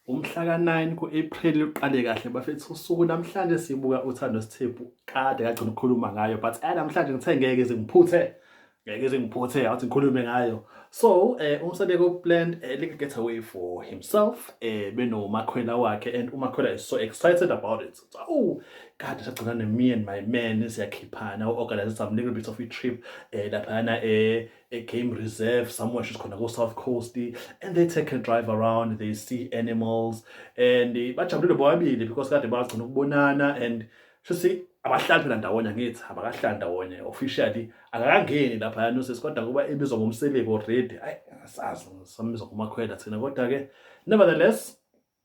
Umhla ka-9 ku-April luqale kahle bafethu usuku namhlanje sibuka uthando sithephu kade kagcina ukukhuluma ngayo but eh namhlanje ngithe ngeke zingiphuthe ngeke zingiphuthe awuthi ngikhulume ngayo so eh umsabeko plan eh, like get away for himself eh benomakhwela wakhe and umakhwela is so excited about it so, oh kade sagcina ne me and my man siyakhiphana u-organize some little bit of a trip eh laphana eh a game reserve somewhere she's khona ko-south coast and they take a drive around they see animals and eh, bajabulile bobabili because kade bagcina ukubonana and shuthi abahlali phela ndawonye angithi abakahlali ndawonye officially akakangeni lapha yanuses kodwa kuba ebizwa ngomselebi already ayi asazi sambiza ngomakhwela thina kodwa-ke nevertheless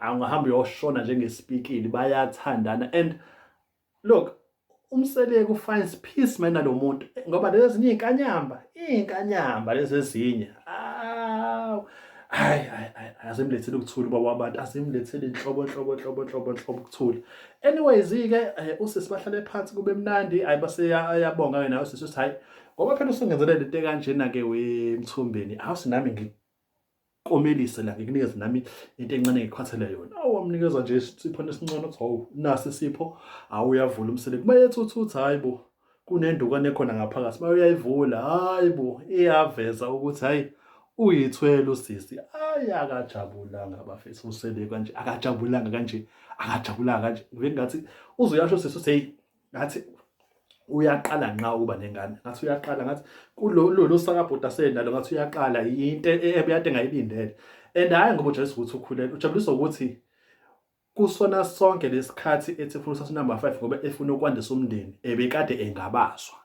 angahamba uyoshona njengesipikili bayathandana and look umseleko finds peace mina lo muntu ngoba lezi ezinye inkanyamba inkanyamba lezi ezinye aw hayi azimlethele ukuthula ubaba wabantu azimlethele inhlobo inhlobo inhlobo inhlobo inhlobo ukuthula anyways ke eh, usisi bahlale phansi kube mnandi hayi baseyabonga ke nawe sisi hayi ngoba phela usungenzelele into kanjena ke wemthumbeni awusinami komelise la ngikunikeze nami into encane ngikhathele yona awu wamnikeza nje isiphone esincane ukuthi hawu nasi isipho awu uyavula umsele kuba yethuthutha hayi bo kunendukane khona ngaphakathi uma uyayivula hayi bo iyaveza ukuthi hayi uyithwele usisi ayi akajabulanga bafethu usele kanje akajabulanga kanje akajabulanga kanje ngibe ngathi uzoyasho sisi uthi hey ngathi uyaqala nqa ukuba nengane ngathi uyaqala ngathi kulolu sakabhuti asenalo ngathi uyaqala yinto e, e, ebeyade ngayilindele and hhayi ngoba ujayisa ukuthi ukhulele ujabuliswa ukuthi kusona sonke lesikhathi ethi funa usathi number 5 ngoba efuna ukwandisa umndeni ebekade engabazwa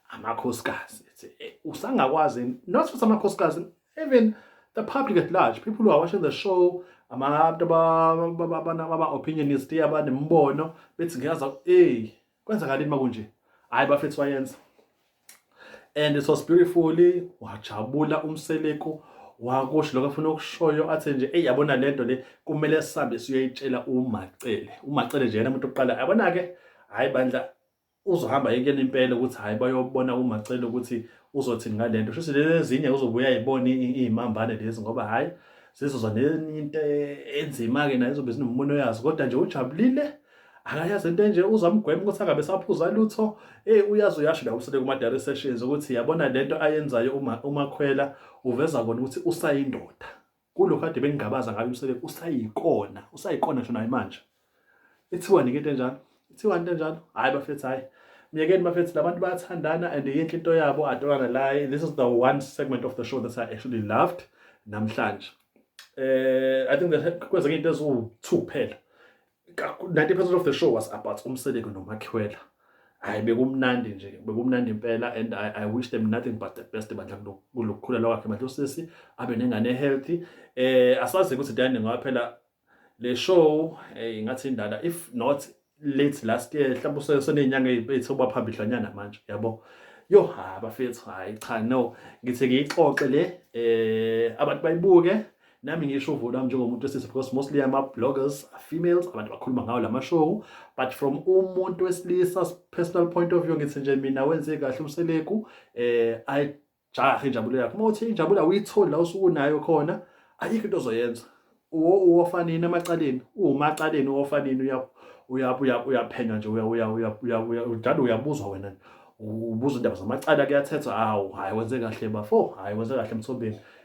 amakhosikazi ethi e, usangakwazi not futhi amakhosikazi even the public at large people who are watching the show abantu ama-opinionist abanembono bethi ngiyaza ey kwenzakalini uma kunje hhayi bafethu wayenza and it was beautifully wajabula umseleku wakusho lokho afuna ukushoyo athe nje eyi yabona le nto le kumele sihambe siyoyitshela umacele umacele nje yena umuntu oqala yabona-ke hhayi bandla uzohamba yekela impela ukuthi hhayi bayobona umacele ukuthi uzothi ngale nto shuthi lezi ezinye uzobuya ayibone iy'mambane lezi ngoba hhayi zizoza nenye into enzima-ke naye izobe zinommono yazo kodwa nje ujabulile akayazi into enje uzamgwema ukuthi angabe saphuza lutho eyi uyazi uyasho la usele kuma-dare sessions ukuthi yabona le nto ayenzayo umakhwela uveza kona ukuthi usayindoda Kulo kade bengingabaza ngayo umsebenzi usayikona, usayikona ngisho naye manje. Ithiwani ke into enjalo? Ithiwani into enjalo? Hayi bafethu hayi. Myekeni bafethu labantu bayathandana and yinhle into yabo atolana la. This is the one segment of the show that I actually loved namhlanje. Eh I think that kwenzeka into eziwu-2 kuphela. 90 percent of the show was about umseleko nomakhwela hayi bekumnandi nje bekumnandi impela and I, I wish them nothing but the best bandla kulokukhulela kwakhe bandla usisi abe nengane healthy eh asazi ukuthi dani ngoba phela le show eh ngathi indala if not late last year mhlawumbe usenenyanga ezithoba phambili lanyana manje yabo yo ha bafethu hayi cha no ngithi ngiyixoxe le eh abantu bayibuke nami ngisho uvo lwami njengomuntu wesilisa because mostly ama-bloggers are females abantu bakhuluma ngawo la mashow but from umuntu wesilisa personal point of view ngithi nje mina wenze kahle umseleku um eh, ayijahe injabulo yakho uma uthi injabulo awuyitholi la usuke unayo khona ayikho into ozoyenza uwofanini emacaleni uwumacaleni uwofanini uyaphenywa nje njalo uyabuzwa wena ubuza indaba zamacala kuyathethwa awu hhayi wenze kahle bafo hhayi wenze kahle emthombeni